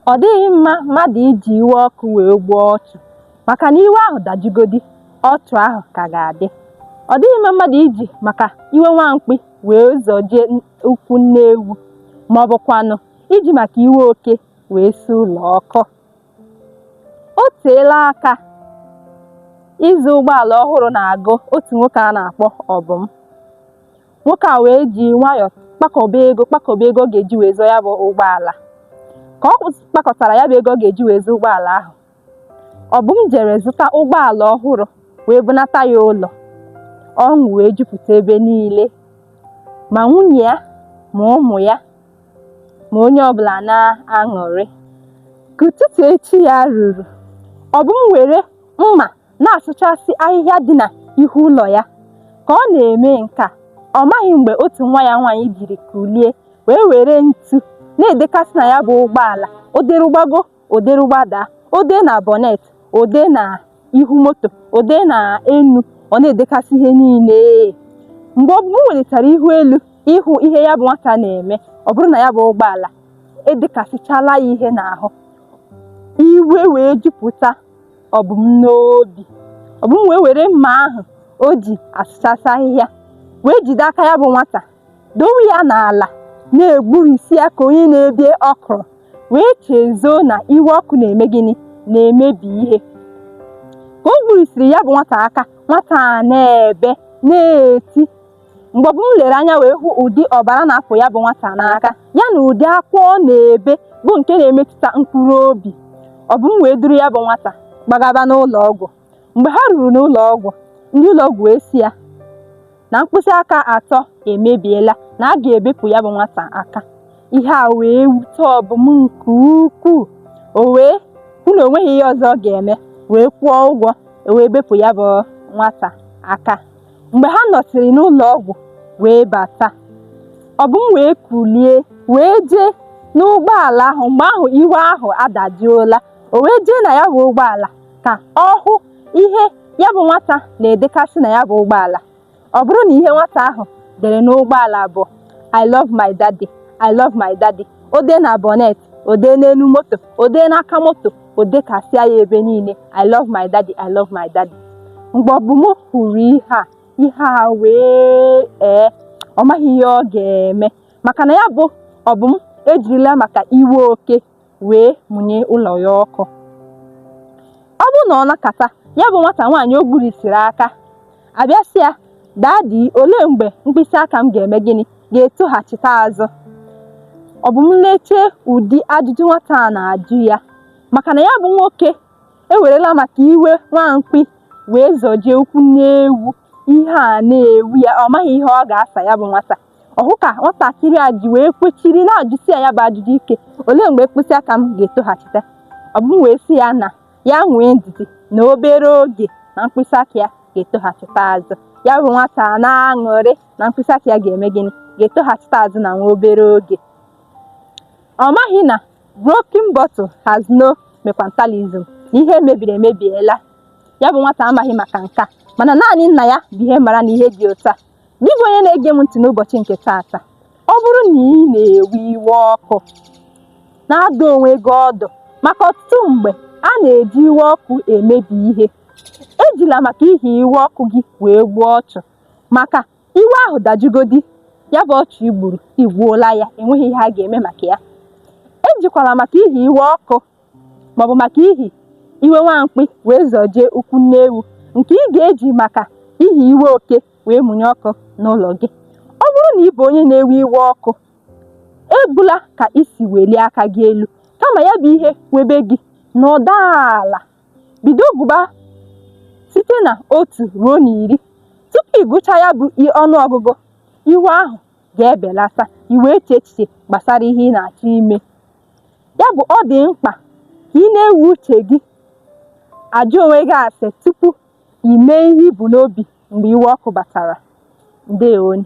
Ọ dịghị mma mmadụ iji iwe ọkụ wee gbuo ọchụ maka na iwe ahụ dajugodi, ọchụ ahụ ka ga-adị. Ọ dịghị mma mmadụ iji maka iwe nwa mkpị wee zọjie ụkwụ nne ewu ma ọ bụkwanụ iji maka iwe oke wee si ụlọ ọkụ. O teela aka ịzụ ụgbọala ọhụrụ na-agụ otu nwoke a na-akpọ Obum. nwoke a wee ji nwayọọ kpakọba ego ọ ga-eji wee zụọ ya bụ ụgbọala ka ọ kpakọtara ya bụ ego ọ ga-eji wee zụọ ụgbọala ahụ Obum jere zụta ụgbọala ọhụrụ wee bunata ya ụlọ ọṅụ wee jupụta ebe niile ma nwunye ya ma ụmụ ya ma onye ọbụla na-aṅụrị ka ụtụtụ echi ya ruru Obum were mma na-asụchasị ahịhịa dị na ihu ụlọ ya. Ka ọ na-eme nke a, ọ maghị mgbe otu nwa ya nwaanyị jiri kulie wee were ntu na-edekasị na ya bụ ụgbọala o deru gbago o deru gbada o dee na bonnet o dee na ihu moto o dee na enu ọ na-edekasị ihe niile mgbe Obum welitara ihu elu ịhụ ihe ya bụ nwata na-eme ọ bụrụ na ya bụ ụgbọala edekasịchala ya ihe n'ahụ iwe wee jupụta Obum n'obi Obum wee were mma ahụ o ji asụchasị ahịhịa wee jide aka ya bụ nwata dowe ya n'ala na-egburisi ya ka onye na-ebi ọkwụrụ wee chezọọ na iwe ọkụ na-eme gịnị na-emebi ihe ka o gburisiri ya bụ nwata aka nwata a na-ebe na-eti mgbe Obum lere anya wee hụ ụdị ọbara na-apụ ya bụ nwata n'aka ya na ụdị akwa ọ na-ebe bụ nke na-emetụta mkpụrụ obi Obum wee duru ya bụ nwata gbagaba n'ụlọ ọgwụ mgbe ha ruru n'ụlọ ọgwụ ndị ụlọ ọgwụ wee sị ya na mkpịsị aka atọ emebiela na a ga-ebepụ ya bụ nwata aka ihe a wee wute Obum nke ukwuu o wee hụ na o nweghị ihe ọzọ ọ ga-eme wee kwụọ ụgwọ e wee bepụ ya bụ nwata aka mgbe ha nọsịrị n'ụlọ ọgwụ wee bata Obum wee kulie wee jee n'ụgbọala ahụ mgbe ahụ iwe ahụ adajụọla o wee jee na ya bụ ụgbọala ka ọ hụ ihe ya bụ nwata na-edekasị na ya bụ ụgbọala ọ bụrụ na ihe nwata ahụ dere n'ụgbọala bụ I love my daddy I love my daddy o dee na bonnet o dee n'elu moto o dee n'aka moto o dekasịa ya ebe niile I love my daddy I love my daddy mgbe Obum hụrụ ihe a ihe a wee ee ọ maghị ihe ọ ga-eme maka na ya bụ Obum ejirila maka iwe oke wee mụnye ụlọ ya ọkụ ọ bụ na ọ nọkata ya bụ nwata nwaanyị o gburisiri aka abịa sị ya daddy olee mgbe mkpịsị aka m ga-eme gịnị ga-etoghachite azụ Obum leche ụdị ajụjụ nwata a na-ajụ ya maka na ya bụ nwoke ewerela maka iwe nwa mkpi wee zọjie ụkwụ nne ewu ihe a na-ewu ya ọ maghị ihe ọ ga-asa ya bụ nwata ọ hụ ka nwatakịrị a ji wee kwechiri na-ajụsi ya ya bụ ajụjụ ike olee mgbe mkpịsị aka m ga-etoghachite Obum wee sị ya na ya nwee ndidi na obere oge na mkpịsị aka ya ga-etoghachite azụ ya bụ nwata a na-aṅụrị na mkpịsị aka ya ga-eme gịnị ga-etoghachite azụ na nwa obere oge ọ maghị na broken bottle has no mekwatalism na ihe mebiri emebiela ya bụ nwata amaghị maka nke a mana naanị nna ya bụ ihe mara na ihe dị otu a Gị bụ onye na-ege m ntị n'ụbọchị nke taata, ọ bụrụ na ị na-ewe iwe ọkụ, na-adụ onwe gị ọdụ maka ọtụtụ mgbe a na-eji iwe ọkụ emebi ihe. Ejila maka ihi iwe ọkụ gị wee gbuo ọchụ maka iwe ahụ dajugodi, ya bụ ọchụ i gburu, i gbuola ya, enweghị ihe a ga-eme maka ya. Ejikwala maka ihi iwe ọkụ maọbụ maka ihi iwe nwa mkpi wee zọjie ụkwụ nne ewu nke ị ga-eji maka ihi iwe oke wee mụnye ọkụ n'ụlọ gị ọ bụrụ na ị bụ onye na-ewe iwe ọkụ ebula ka isi welie aka gị elu kama ya bụ iwe webe gị nọdụ ala bido gụba site na otu ruo na iri tupu ị gụcha ya bụ ọnụ ọgụgụ iwe ahụ ga-ebelata ị wee chee echiche gbasara ihe ị na-achọ ime ya bụ ọ dị mkpa ka ị na-ewe uche gị ajụ onwe gị ase tupu ị mee ihe i bu n'obi mgbe iwe ọkụ batara ndewo nụ